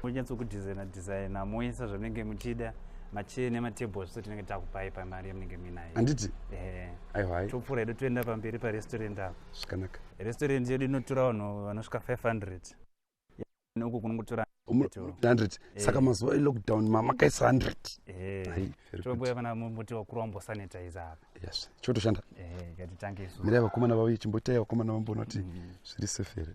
kunyatsokudesigner designer moisa zvamunenge muchida machee nematable zviso tinenge takupai pamari yamunenge muinayo handiti eh. aihwai topfuura hedu toenda pamberi parestaurant apo zvakanaka restaurant yedu inotora vanhu vanosvika 500 noku kunongotora 100 eh. saka mazuva elockdown mamakaisa 100tongoya vana muti wakuru wambosanitize apa yes chotoshanda eh, mirai vakomana vavo ichimboitai vakomana vambonoti mm-hmm. zviri sefere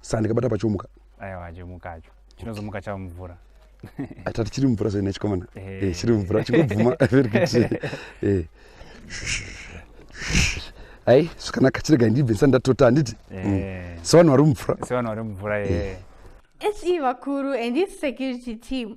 saa ndikabata pachomuka aiwa chomuka acho chinozomuka chava mvura atati chiri mvura soina chikomana eh. eh, chiri mvura chingobvuma eh. ai zvakanaka chirega ndibve ndisati ndatota handiti mm. sevanhu vari mumvura sevanhu vari mumvura ye se vakuru and this security team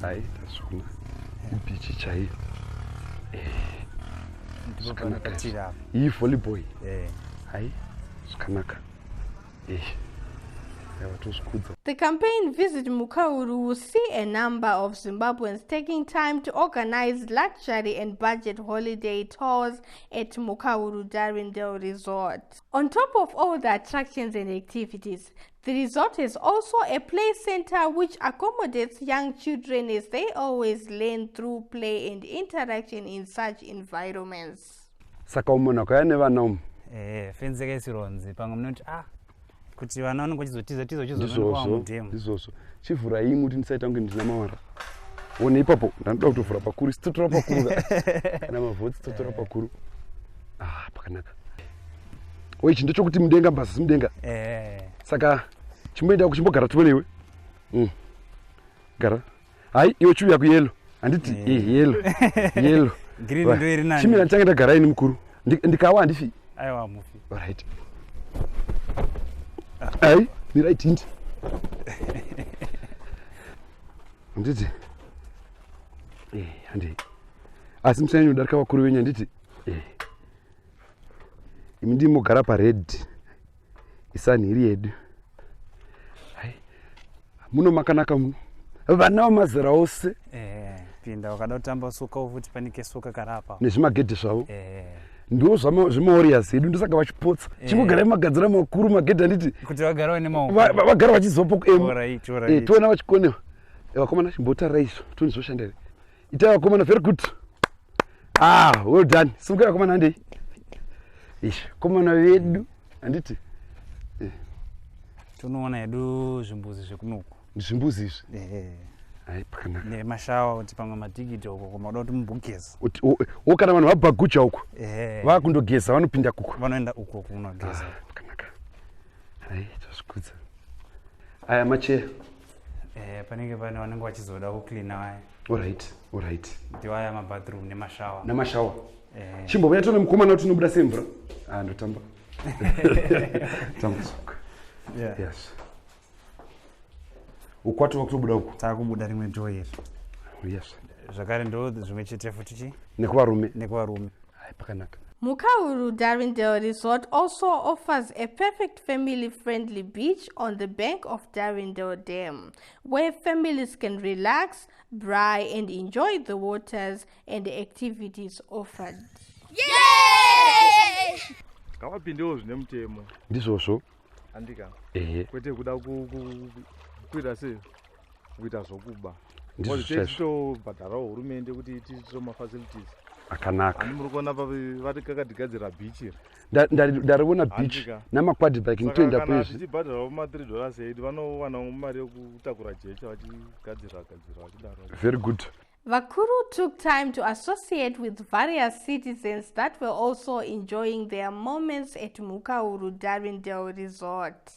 Hai, tazviona. Bichi chaiyo. Eh. Zvakanaka. Iyi volleyboy. Eh. Hai, zvakanaka. Eh. The campaign Visit Mukauru will see a number of Zimbabweans taking time to organize luxury and budget holiday tours at Mukauru Darindale Resort. On top of all the attractions and activities, The resort is also a play center which accommodates young children as they always learn through play and interaction in such environments. Saka umona kwaya nevana umu? Eh, fenzeka isironzi pamwe munoti ah kuti vana vanenge vachizotiza tiza vachizonoamudhemu. Ndizvozvo. Chivhura imwe kuti ndisaita kunge ndina mawara. One ipapo ndanoda kutovhura pakuru sitotora pakuru kana mavhoti sitotora pakuru. Ah, pakanaka. o ichi ndechokuti mudenga mbazasi mudenga eh. saka chimboenda kuchimbogara tuve newe mm. gara hai iwe chiuya kuyelo handiti eh. eh, yelo yelo chimira ndichange ndagara ini mukuru ndikawa handifi right hai mirai tindi handiti eh, handi asi musanyanya kudarika vakuru venyu handiti imi ndimi mogara pared isani iri yedu muno makanaka muno vana vamazera ose eh, pinda wakada kutamba suka ufuti panike suka karapa nezvimagedhe zvavo eh. ndiwo zvemaorias edu ndosaka vachipotsa eh. chingogarai magadzira makuru magedhe anditi kuti vagara vane maoko vagara vachizopo kuemu toona vachikonewa vakomana chimbotara izvo toni zvoshandere itai vakomana very good ah well done simukai vakomana handei ish komana vedu handiti eh. tonoona hedu zvimbuzi zvekunoku ndizvimbuzi izvi eh. hai pakanaka nemashawa kuti pamwe matikiti uko koma uda kuti mumbogeza o kana vanhu vabhagucha uko eh. vakundogeza vanopinda kuko vanoenda uko kunogeza ah, pakanaka hai tozvikudza aya macheya eh, panenge pane vanenge vachizoda kucleana vaya orit orit kuti vaya mabathroom nemashawa namashawa eh. chimbovuya tone mukomana kuti unobuda sei mvura ah, ndotamba tambusuka yeah. yes ukwati wakutobuda uku takubuda rimwe door iri yes zvakare ndo zvimwe chete futi chi nekuvarume nekuvarume hayi pakanaka Mukahuru Darindale Resort also offers a perfect family friendly beach on the bank of Darindale Dam, where families can relax, braai, and enjoy the waters and the activities offered. ngavapindewo zvine mutemo ndizvozvo andika ehe kwete kuda kukwira sei kuita zvokuba tobhadharawo hurumende kuti itiitiro mafacilities akanaka ani muri kuona pa vari kakatigadzira bichi iri ndariona beach namakwadi bike nitoenda pezvitibhadharawo ma3 dollars aid vanowanawo mari yokutakura jecha vachigadzira gadzira vachidaro very good vakuru took time to associate with various citizens that were also enjoying their moments at mukauru darindale resort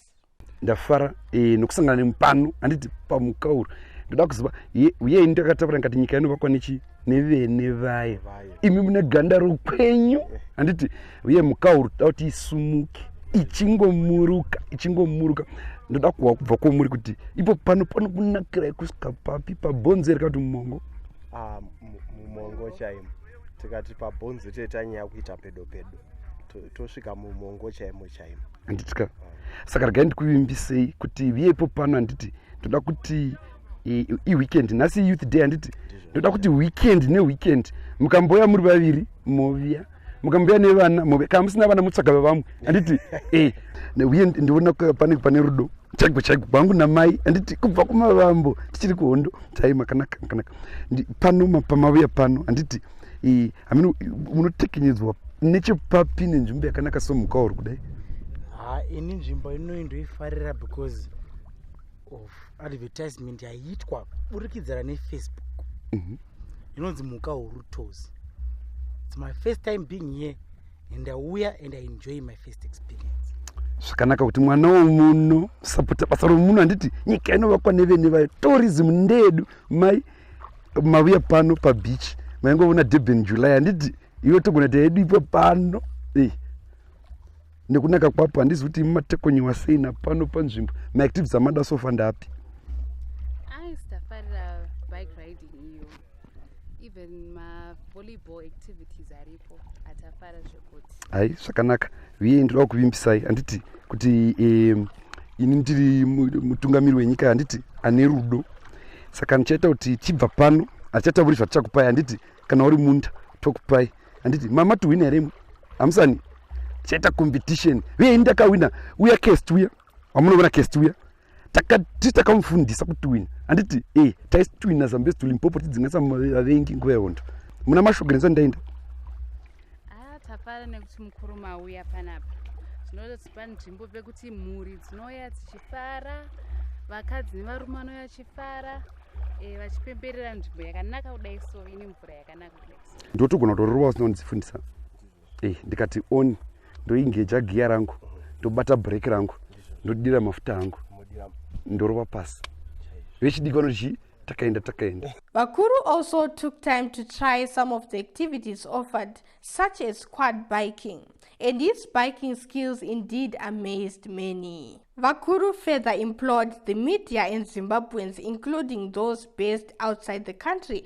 ndafara eh, nokusangana nemu pano handiti pamukauro ndoda kuziva uye ini takataura ngati nyika inovakwa nechi nevene vaye imi mune ganda rokwenyu eh. handiti uye mukauro toda kuti isumuke ichingomuruka ichingomuruka ndoda kuwa kubva kwomuri kuti ipo pano pano kunakira yekusvika papi pabhonzo erika kuti mumongo ah, mumongo chaimo tikati pabhonzo toita nyaya kuita pedo pedo tosvika mumongo chaimo chaimo handiti ka saka regai ndikuvimbisei kuti viyepo pano handiti ndoda kuti iweekend nhasi youth day handiti ndoda kuti weekend neweekend mukamboya muri vaviri moviya mukambuya nevana move kana musina vana mutsvaga vavamwe handiti e eh, uye ndiona pane pane rudo chaigo chaigo kwangu namai handiti kubva kumavambo tichiri kuhondo chai makanaka makanaka pano pamavuya pano handiti i mean munotekenyedzwa nechepapi nenzvimbo yakanaka somukauri kudai ha ini nzvimbo inoyi ndoifarira because of advertisement yaiitwa burikidzana nefacebook mhm. inonzi muka huru tos its my first time being here and auya and i enjoy my first experience zvakanaka kuti mwana womuno sapota basa romuno handiti nyika inovakwa nevene vayo tourism ndeedu mai mavuya pano pabeach maingoona durban july handiti iwe togona ta yedu ipo pano eh. nekunaka kwapo handizi kuti imi matekonyiwa sei napano panzvimbo maactivities amada sofa ndapi hai zvakanaka viye ndinoda kuvimbisai handiti kuti um, ini ndiri mutungamiri wenyika handiti ane rudo saka ndichaita kuti chibva pano hatichatauri zvatichakupai handiti kana uri munda tokupai handiti mama tihwina here imwe hamusani tichaita competition uye ini ndakahwina uya cast uya wamunoona cast uya takati takamufundisa kutwina handiti e eh, taisitwina zambezi tulimpopo tidzingaisa vavengi nguva yehondo muna mashogere nzva ndaenda ah, tafara nekuti mukuru mauya panapa zvinozotipa nzvimbo pekuti mhuri dzinouya dzichifara vakadzi nevarume anouya achifara eh, vachipemberera nzvimbo yakanaka kudai so ine mvura yakanaka kudai so ndotogona kutororova usina kundidzifundisa eh, ndikati on ndoingeja giya rangu ndobata break rangu ndodira mafuta angu ndorova pasi vechidiki vanochii takaenda takaenda vakuru also took time to try some of the activities offered such as quad biking and his biking skills indeed amazed many vakuru further implored the media and zimbabweans including those based outside the country